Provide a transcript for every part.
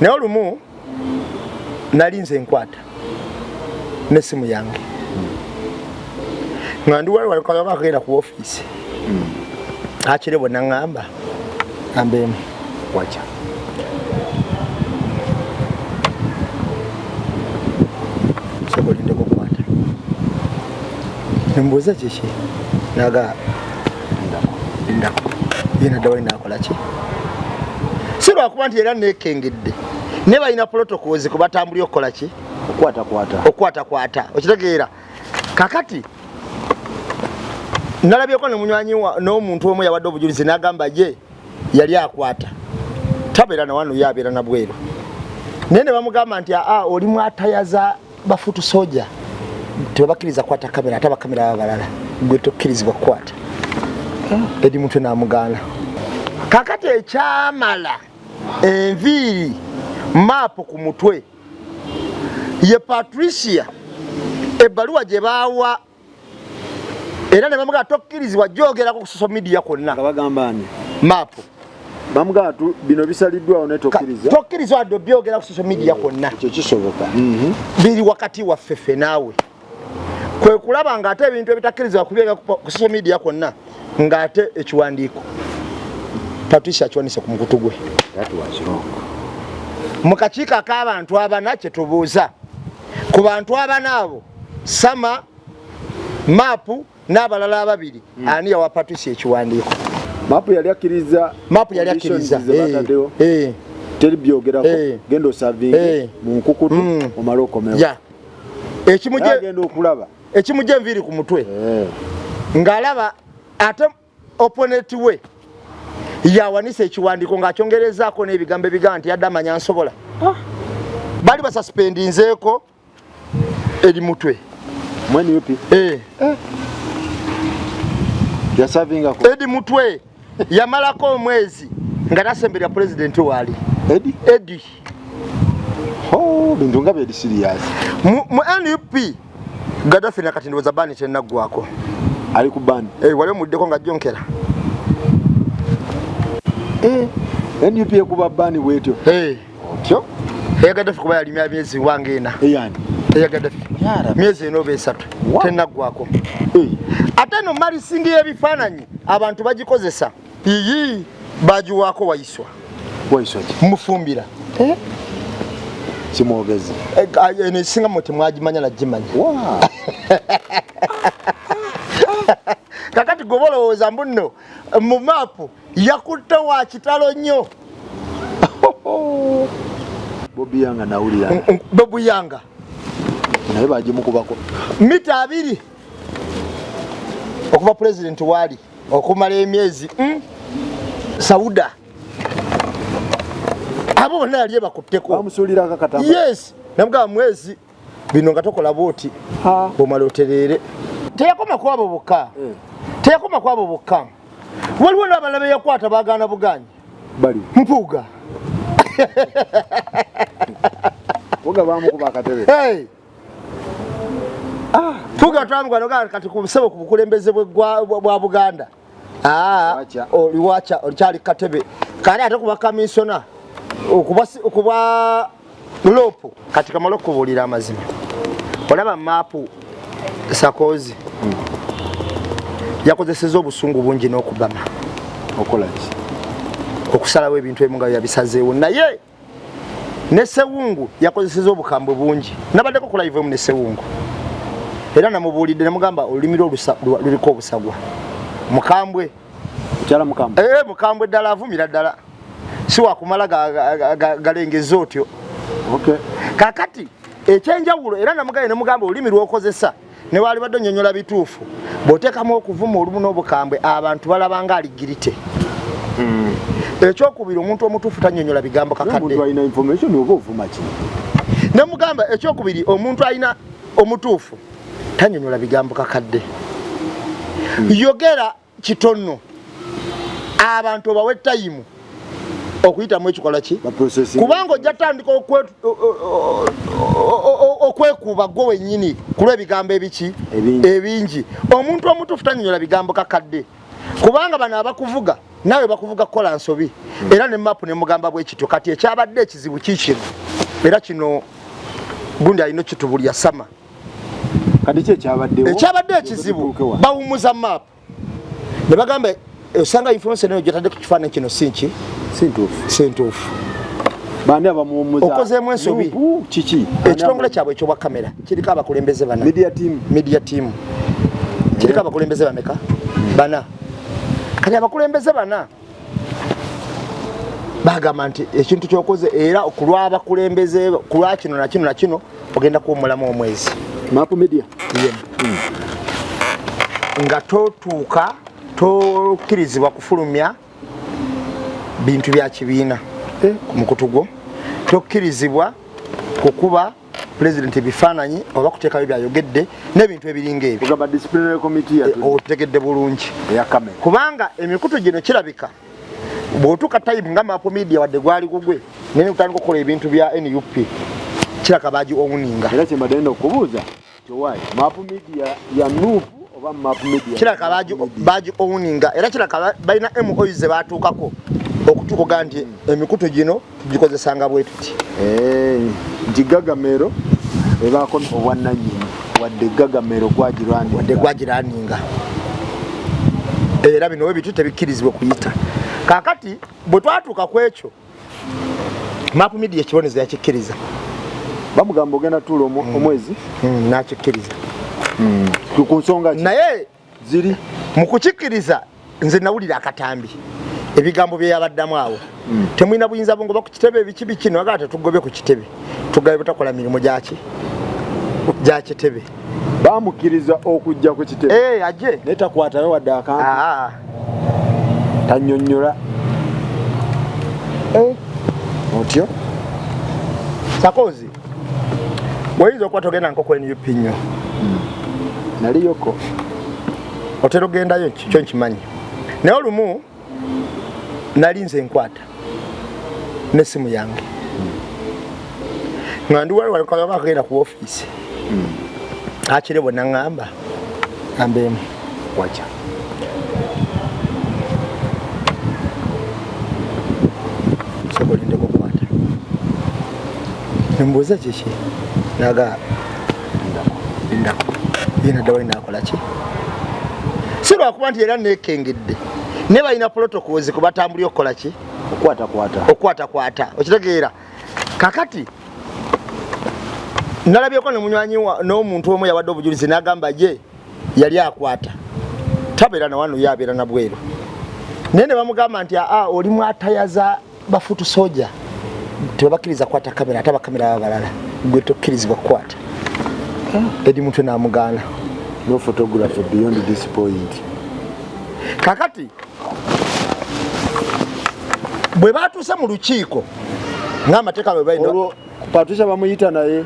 naye olumu nali nze nkwata nesimu yange nga ndi wali walikaba akagenda ku ofiisi hmm. akire bwe naŋŋamba ambeemu waca sobolindeko kukwata nembuuza kiki naga si lwakuba nti era nekengedde naye balina protocols kwe batambulira okukola ki okukwatakwata okitegeera kakati nalabyeko nemunywanyi n'omuntu omu yawadde obujulizi nagamba ye yali akwata tabeera nawano yo abeera nabweru naye ne bamugamba nti aa oli mwatayaza bafutu soja tebabakiriza kwata kamera ate abakamera baba balala gwe tokkirizibwa kukwata ah. edi mutwe namugaana kakati ekyamala enviiri maapu ku mutwe ye patricia ebbaluwa gye baawa era ne bamugaa tokkirizibwa gyogerako ku social media kwonna nga bagamba ni maapu bamugaa tu bino bisaliddwawo ne tokkiriza tokkiriza wadde obyogera ku social media kwonna ekyo kisoboka mhm. biri wakati waffe ffe naawe kwe kulaba ng'ate ebintu ebitakkirizibwa kubyogera ku social media kwonna ng'ate ekiwandiiko patricia akiwanise ku mukutu gwe mu kakiiko ak'abantu abana kye tubuuza ku bantu abana abo sama maapu n'abalala ababiri mm. ani yawa patusi ekiwandiiko maapu yali akkiriza maapu yali akkiriza teri byogerako eh. genda osavinge eh. mu nkukutu mm. omale okomewo ekimugenda okulaba ekimugya enviiri ku mutwe eh. ng'alaba ate oponeti we yawanisa ekiwandiiko ng'akyongerezaako n'ebigambo ebigaa nti yadde amanya nsobola ah. bali basasipendinzeeko eri mutwe mwani yupi eh eh ya savinga ko edi mutwe yamala ko omwezi nga tasembera president wali edi edi oh bintu ngabe edi serious mu, mu nup gadafi na kati ndoza bani tena gwako ali ku bani eh wale mudeko nga jonkera eh nup ekuba bani wetyo eh hey. otyo eyagadde ffe kuba yalimya myezi wange ena eyagadde ffe myezi ena oba esatu tenaggwako eh. ate no malisingi y'ebifaananyi abantu bagikozesa iyi bagiwaako wayiswa mufumbira eh? kimwogezi eh, ah, eno esinga mwe temwagimanya nagimanya kakati goba olowooza mbu nno mu maapu yakutte wa kitalo nnyo bobiyanga nawulira bobuyanga naye bagimukubako mita abiri okuva pulezidenti waali okumala emyezi hmm? sauda abo bonna yali ebakutteko yes namugaba mwezi bino nga tokola bwoti omala otereere teyakoma kwabo bokka eh. teyakoma kwabo bokka waliwo n'abalala beyakwata bagaana buganyi mpuuga mpuuga bamukuba akatebe mpuuga ah. twamugana kati ku busebo ku bukulembeze bwa buganda ah, oliwaca olikyali katebe kani ate kuba kamisona okuba lopu kati kamala okubuulira amazima olaba maapu sakozi hmm. yakozeseza obusungu bungi n'okubama okolaki okusalawo ebintu ebimu nga yabisazeewo naye ne sewungu yakozeseza obukambwe bungi nabaddeko ku live emu ne sewungu era namubuulidde nemugamba olulimi lwo luliko obusagwa mukambwe eh, mukambwe ddala avumira ddala si wakumala galengeza otyo kakati ekyenjawulo era namugaye nemugamba olulimi lwokozesa ne waalibadde onyonyola bituufu bw'oteekamu okuvuma olumu n'obukambwe abantu balaba nga aligirite hmm. ekyokubiri omuntu omutuufu tanyonyola bigambo kakadde ne mugamba ekyokubiri omuntu alina omutuufu tanyonyola bigambo kakadde hmm. yogera kitonno abantu obawe tayimu okuyitamu ekikola ki kubanga ojja tandika okwekuuba gwe wenyini kulwebigambo ebiki ebingi omuntu omutuufu tanyonyola bigambo kakadde kubanga bano abakuvuga nawe bakuvuga kukola nsobi hmm. era ne mapu nemugamba bwekityo kati ekyabadde ekizibu kikino era kino gundi alina kitubulya sama ekyabadde ekizibu bawumuza map ne bagamba osanga information eyo gyotadde ku kifaananyi kino si nki si ntuufu okozeemu ensobi ekitongole kyabwe ekyobwa kamera kiriko abakulembeze bana media team kiriko abakulembeze bameka bana kati abakulembeze bana bagamba nti ekintu kyokoze era okulwabakulembeze kulwa kino na kino na kino ogenda kuwumulamu omwezi mapu media yeah. mm. nga totuuka tokkirizibwa kufulumya bintu bya kibiina eh. ku mukutu gwo tokkirizibwa kukuba pulezidenti ebifaananyi oba kuteekayo byayogedde n'ebintu ebiringa ebyotegedde eh, bulungi kubanga emikutu gino kirabika bwotuuka tayibu nga mapu media wadde gwali gugwe naye kutandika okukola ebintu bya nup kiraka baagi owuninga era kyembadde nda okubuuza Tewali. Map media ya Nup oba map media. Kila kabaji baji owninga era kila kaba balina MOU ze batuukako okutukoga nti emikutu gino tugikozesanga bwe tuti. Eh, nti gagamero ebaako obwannannyini wadde gagamero gwagirwaninga. Wadde gwagirwaninga. Era bino we bitu tebikkirizibwa kuyita. Kakati bwe twatuuka ku ekyo maapu midiya ekibonezo yakikkiriza bamugamba ogenda tuula mm. omwezi mm, nakikkiriza mm. ku nsonga naye ziri mu kukikkiriza nze nawulira akatambi ebigambo byeyabaddamu awo temulina buyinza bungoba ku kitebe ebikibi kino agala tetugobe ku kitebe tugabe butakola mirimu gyaki gyakitebe bamukiriza okujja ku kitebe hey, eh, aje naye takwatayo wadde akantu ah. tanyonyola eh. otyo sakozi weyinza okuba togenda nkoko nup nyo hmm. naliyoko otera ogendayo kyo nkimanyi naye olumu nali nze nkwata nesimu yange nga ndi wali walikagaba akagenda ku ofiisi hmm. akire bwe naŋŋamba ambeemu waca sobolindeko okwata nemubuuza kiki naga yena dawali nakolaki si lwakuba nti era nekengedde naye balina protocols kubatambuli okukolaki okukwatakwata okitegeera kakati nalabyeko nemunywanyi n'omuntu omu yawadde obujulizi nagamba ye yali akwata tabeera nawano yabeera nabweru naye nebamugamba nti aa oli mwatayaza bafutu soja tebabakiriza kwata kamera ate abakamera baba balala gwe tokkirizibwa kukwata ah. edi mutwe namugaana no photography beyond this point kakati bwe batuuse mu lukiiko ngaamateeka bwe balina patricia bamuyita naye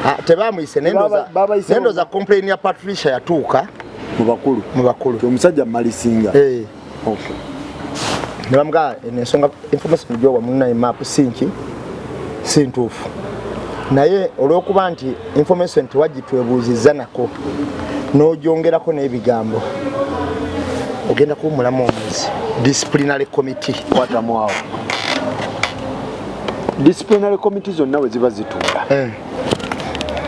ah, tebamuyise nendoza complain ya patricia yatuuka mu bakulu mu bakulu omusajja malisinga eh. okay nebamga ensonga information gyowa munaye map sinki sintuufu naye olwokuba nti information tewagitwebuuzizza nako nojongerako n'ebigambo ogenda kuba omulamu omwezi disciplinary committee kwatamu awo disciplinary committee zonna we ziba zituula eh.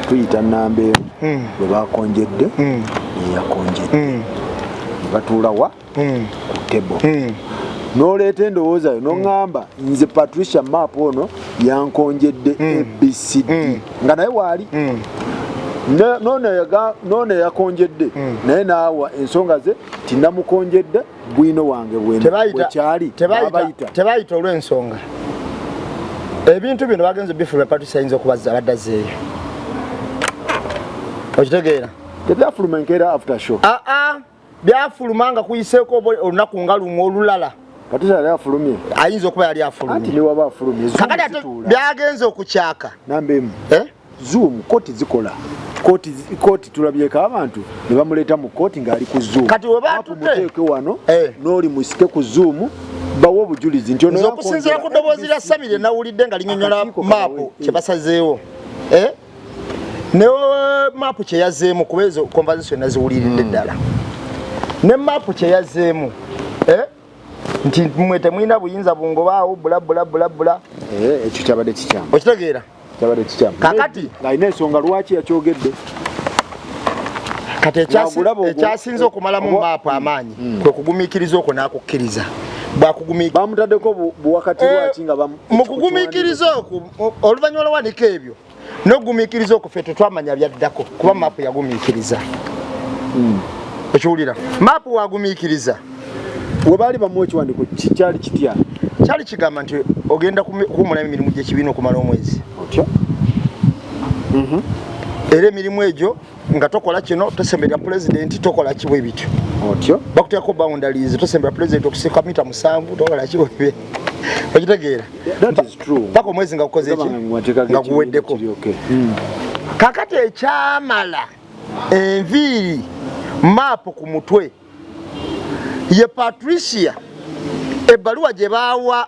tuyita namba emu hmm. bwe bakonjedde hmm. neyakonjedde hmm. batuula wa ku tebo noleeta endowooza yo noŋamba nze patricia map ono yankonjedde abcd nga naye waali nono yakonjedde naye naawa ensonga ze tinamukonjedde bwino wange bwekyali tebayita olw'ensonga ebintu bino bagenze bifuluma patusi ayinza okubazza abadda zeeyo okitegeera tebyafuluma enkeera after show aa ah, ah, byafuluma nga kuyiseeko olunaku nga lumu olulala patusi yali afulumye ayinza okuba yali afulumye kakati byagenze okukyaka nambemu eh? zoom koti zikola koti koti tulabyeko abantu ne bamuleeta mu koti ng'ali ku zoom kati webamuteeke wano eh. n'oli musike ku zoom bawo obujulizi nti ono okusinziira ku ddoboozi lya sabire nawulidde nga linyonyola maapu kye basazeewo eh? ne maapu kye yazeemu kuba ezo conversation naziwuliridde hmm. ddala ne maapu kye yazeemu eh? nti mwe temulina buyinza bungobaawo bulabulabulabula eh, ekyo kyabadde kikyamu okitegeera kyabadde kikyamu kakati alina ensonga lwaki yakyogedde kati ekyasinze okumalamu maapu amaanyi hmm. kwe kugumikiriza okwo n'akukkiriza bamutaddeko buwakati lwaki nga eh, mu kugumikiriza okwo oluvannyuma lwawanika ebyo nogumiikiriza okwo ffe tetwamanya byaddako kuba maapu yagumiikiriza hmm. okiwulira maapu wagumiikiriza webaali bamu ekiwandiko kyali kitya kyali kigamba nti ogenda kuwumulamu emirimu gyekibiina okumala omwezi otya mhm. era emirimu egyo nga tokola kino tosemberera pulezidenti tokola kibwe bityo otyo bakuteekako boundaries tosemberera pulezidenti okusika mita musanvu tokola kibwe bye okitegeera paka omwezi nga kukoze eki nga guweddeko hmm. kakati ekyamala enviiri maapu ku mutwe ye patricia ebbaluwa gye baawa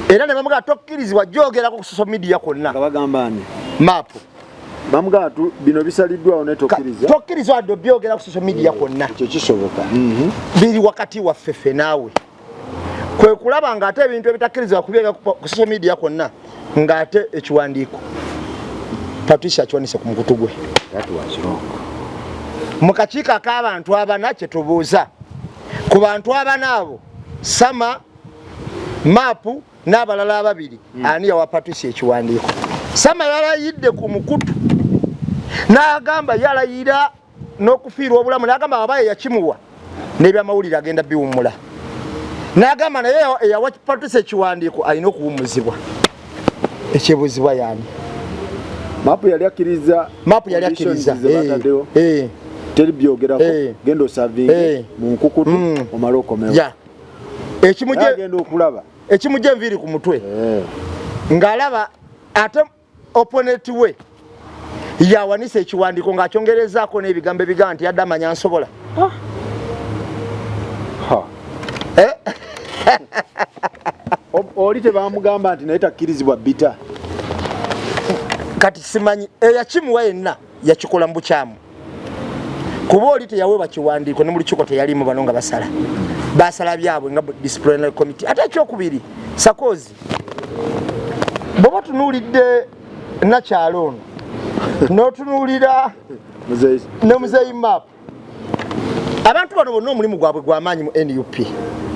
era ne bamugaa tokkirizibwa gyogerako ku social media kwonna bagambani maapu bamugaa tu bino bisaliddwawo ne tokkiriza tokkiriza wadde obyogera ku social media kwonna ekyo kisoboka mhm. biri wakati waffe ffe naawe kwe kulaba ng'ate ebintu ebitakkirizibwa kubyogera ku social media kwonna ng'ate ekiwandiiko patricia akiwanise ku mukutu gwe mu kakiiko ak'abantu abana kye tubuuza ku bantu abana abo sama maapu n'abalala ababiri hmm. ani yawa patusi ekiwandiiko sama yalayidde ku mukutu n'agamba yalayira n'okufiirwa obulamu n'agamba abaye yakimuwa n'ebyamawulire agenda biwummula n'agamba naye eyawa patusi ekiwandiiko alina okuwummuzibwa ekyebuzibwa yani mapu yali akiriza mapu yali akiriza eh, eh. teri byogerako eh. genda osavinge mu nkukutu mm. omale okomewo ekimugenda okulaba ekimugya enviiri ku mutwe ng'alaba ate oponeti we yawanisa ekiwandiiko ng'akyongerezaako n'ebigambo ebigamba nti yadde amanya nsobola ah. eh? oli tebamugamba nti naye takkirizibwa bita kati simanyi eyakimuwa eh, yenna yakikola mu bukyamu kuba oli teyaweebwa kiwandiiko ne mu lukiiko teyalimu bano nga basala basala byabwe nga disciplinary committee ate ekyokubiri sakozi bwoba tunuulidde nakyalo ono notunuulira ne muzeyi map abantu bano bonna omulimu gwabwe gwamaanyi mu nup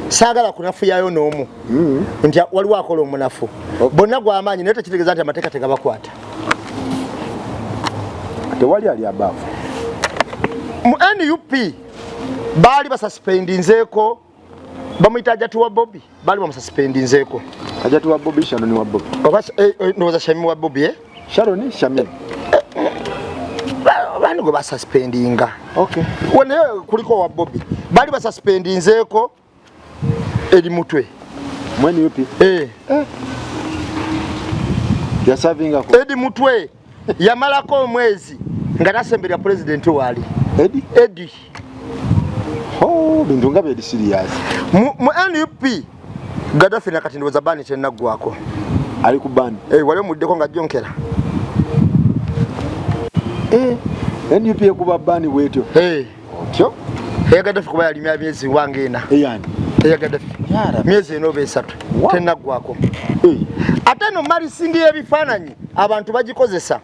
saagala kunafuyayo n'omu mm. nti waliwo akola omunafu bonna gwamaanyi naye tekitegeeza nti amateeka tegabakwata tewali ali abaavu mu nup baali basasipendinzeeko bamuyita ajati wa bobi baali bamusasipendinzeeko ajati wa bobi shanoni wa bobi oba eh, eh, ndowooza shami wa bobi eh? sharoni shami bani gwe basuspendinga naye kuliko wa bobi bali basuspendinzeeko eri mutwe mwani yupi eh eh ya savinga ko edi mutwe yamalako omwezi nga nasembera president wali edi edi oh bintu ngabe edi serious mu, mu nup gadafi nakati ndoza bani tena gwako ali ku bani eh wale mudeko nga jonkera eh nup ekuba bani wetyo eh hey. otyo eyagadde ffe kuba yalimya myezi wange ena eyagadde ffe myezi ena oba esatu tenaggwako eh. ate no malisingi y'ebifaananyi abantu bagikozesa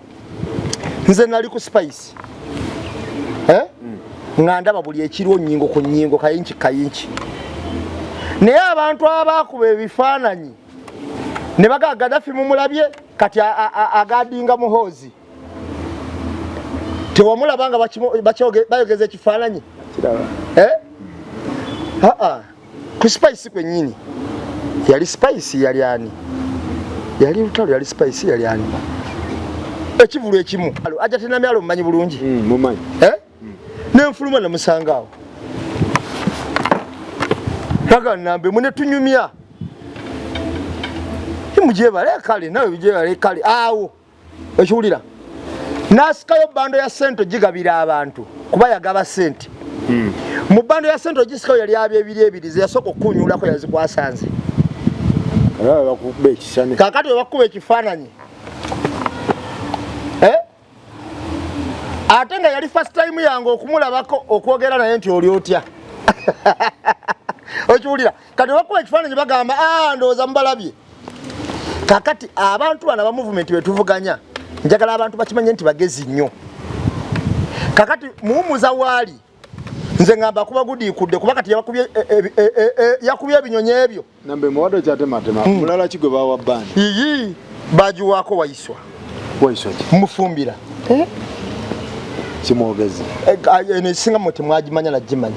nze nali ku spice eh? hmm. nga ndaba buli ekiriwo nyingo ku nyingo kayinki kayinki naye abantu abaakuba ebifaananyi ne bagaa gadafi mumulabye kati agadinga muhoozi tewamulaba nga bayogeza ekifaananyi eh? aa ku spice kwenyini yali spice yali ani yali lutalo yali spice yali ani ekivulu ekimu aja tenamyalo mumanyi bulungi hmm, eh? hmm. nenfuluma namusangaawo naganambe mune tunyumya mujebale kale nawe bijebale kale awo okiwulira n'asikayo bando ya sente ogigabira abantu kuba yagaba sente hmm. mu bando ya sente ogisikayo yali aba ebiri ebiri zeyasooka okukunyuulako yazikwasanze kakati webakuba ekifaananyi eh? ate nga yali fast time yange okumulabako okwogera naye nti oli otya okiwulira kati webakuba ekifaananyi bagamba ah, ndowooza mubalabye kakati abantu bana ba movement betuvuganya njagala abantu bakimanye nti bagezi nnyo kakati muwumuza waali nze ngamba kuba gudiikudde kuba kati yakubye e, e, e, ebinyonyi ebyo nambe muwado kyatematema hmm. mulala kigwe bawa bani iyi bagiwaako wayiswa wayiswa mufumbira eh? kimwogezi eh, eno esinga mwe temwagimanya nagimanya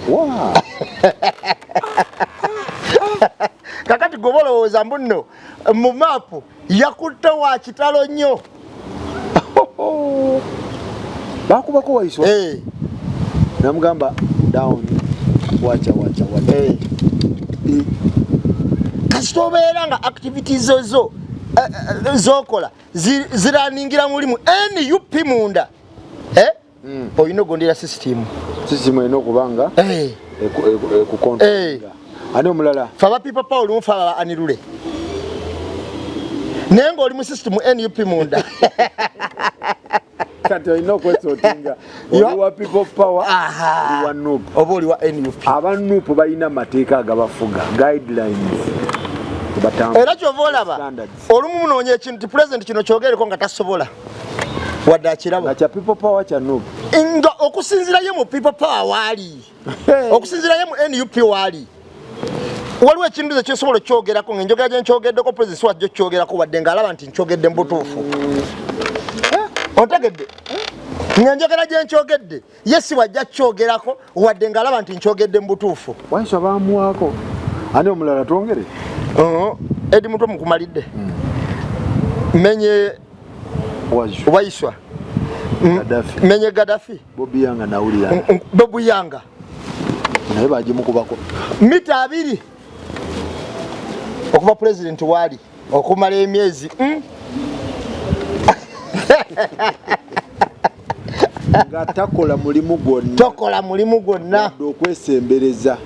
kakati goba olowooza mbu nno mu maapu yakutte wa kitalo nnyo bakubako waiswa hey. Eh. namugamba down wacha wacha wacha hey. Eh. hey. Eh. kasita obeera nga activities zozo zokola ziraningira mulimu nup munda mm. olina okugondera sisitimu sisitimu erina okuba nga eh. ekukonta eh. ani omulala fe abapipa paul mufe ababa anirule naye ngaoli mu sisitimu nup munda kati olina okwesotinga oliwa people power oliwa nup oba oliwa nup aba nup balina amateeka agabafuga guidelines era kyova olaba olumu munoonya ekintu ti pulezidenti kino kyogereko nga tasobola wadde akiraba kya people power kya nup nga okusinzirayo mu people power waali okusinzirayo mu nup waali waliwo ekintu ze kyosobola okukyogerako nga enjogera gyenkyogeddeko pulezidenti siwajja okukyogerako wadde ng'alaba nti nkyogedde mu butuufu eh? ontegedde nga enjogera gyenkyogedde ye si wajja kukyogerako wadde ng'alaba nti nkyogedde mu butuufu waisa baamuwaako ani omulala twongere uh-huh. edi mutwe mukumalidde hmm. menye waiswa hmm. menye gadafi bobuyanga nawulira bobuyanga naye bagimukubako mita abiri okuva pulezidenti waali okumala emyezi hmm? nga takola mulimu gwonna tokola mulimu gwonna okwesembereza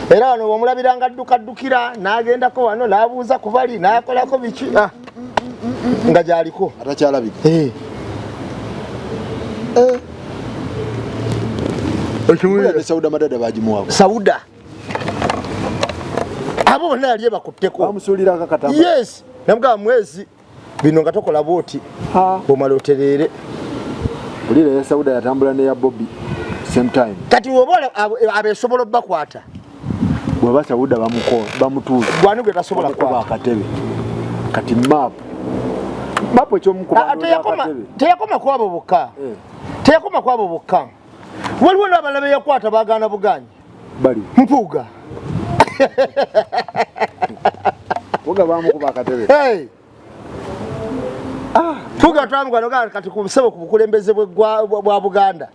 era wano bwomulabira nga addukaddukira n'agendako wano n'abuuza ku bali n'akolako biki ah, nga gyaliko atakyalabika eh. eh. sauda madada bagimuwako sauda abo bonna yali ebakutteko amusuulirako katama yes namugamba mwezi bino nga tokola bwoti omala otereere olira ya sauda yatambula neya bobi same time kati oba abesobola obakwata bwaba sauda bamutuuza gwani gwe tasobola kuba akatebe kati map map ekyomukubteyakoma kwabo bokka eh. teyakoma kwabo bokka waliwo nabalabe yakwata bagaana buganyi bali mpuuga mpuuga bamukuba akatebe ah. mpuuga twamugwanoga kati ku nsebo ku bukulembeze bwa buganda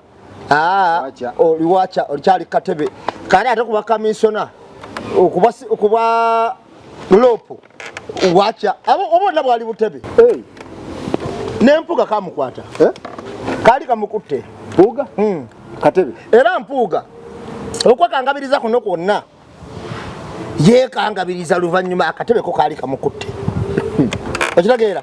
ah, oliwaca olikyali katebe kale ate kuba kaminsona okuba loopu watya abo obona bwali butebe hey. nempuga kamukwata eh? kali kamukutte puga mm. katebe era mpuuga okwekangabiriza kuno kwonna yekangabiriza luvannyuma akatebeko kaali kamukutte okitegeera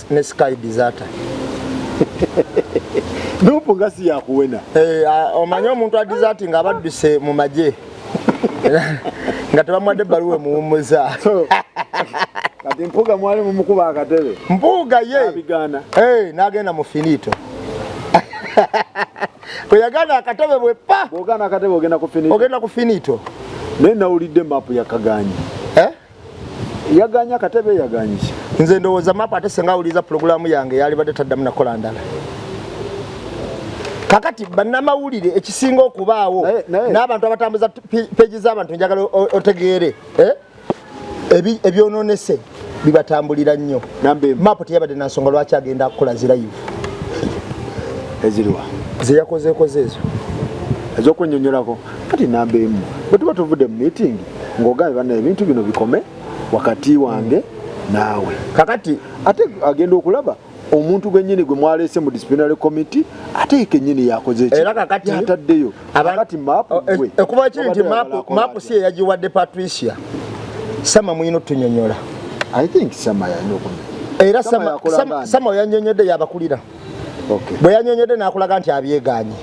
ne sky desata nupu nga si yakuwena eh, omanyi omuntu adizati nga abadduse mu magye nga tebamwadde ebbaluwa emuwummuza kati mpuuga mwali mumukuba akatebe mpuuga ye eh, nagenda mu finito bweyagana akatebe bwe pa ogenda ku finito naye nawulidde mapu yakaganya yaganya katebe yaganyisa nze ndowooza map ate senga awuliriza pulogulaamu yange yalibadde taddamu nakola ndala kakati bannamawulire ekisinga okubaawo n'abantu abatambuza peji z'abantu njagala otegeere eh? ebyononese bibatambulira nnyo map teyabadde nansonga lwaki agenda kukola zirayivu eziriwa zeyakozeekoze ezo ez'okwenyonyolako kati namba emu bwe tuba tuvudde mu meetingi ng'ogambye banna ebintu bino bikome wakati wange naawe kakati ate agenda okulaba omuntu gwenyini gwe mwaleese mu disciplinary committee ate ye kenyini yakoze ekyataddeyo abakati maapu e- e- ekuba kiri nti maapu si eyagiwadde patricia sama muyina otunyonyola i think sama yalina okunyonyola era sama oyanyonyodde yabakulira bwe yanyonyodde n'akulaga nti abyeganye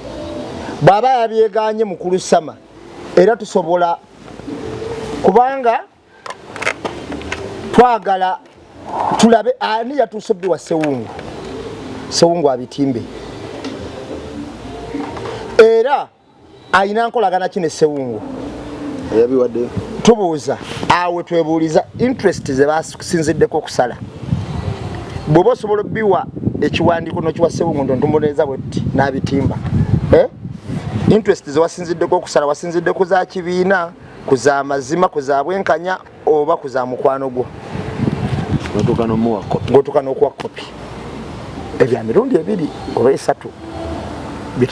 bw'aba yabyeganye mukulu sama era tusobola kubanga twagala tulabe ani yatuuse bbi wa sewungu sewungu abitimbe era alina nkolagana ki ne sewungu tubuuza awe twebuuliza interest zebas tukusinziddeko okusala bwoba osobola obiwa ekiwandiiko nokiwa sewungundo ntumuleeza bwetti n'abitimba eh? interest zewasinziddeko okusala wasinzidde ku za kibiina ku za mazima ku za bwenkanya oba ku za mukwano gwo gotuka n'okuwa kopi ebya mirundi ebiri oba esatu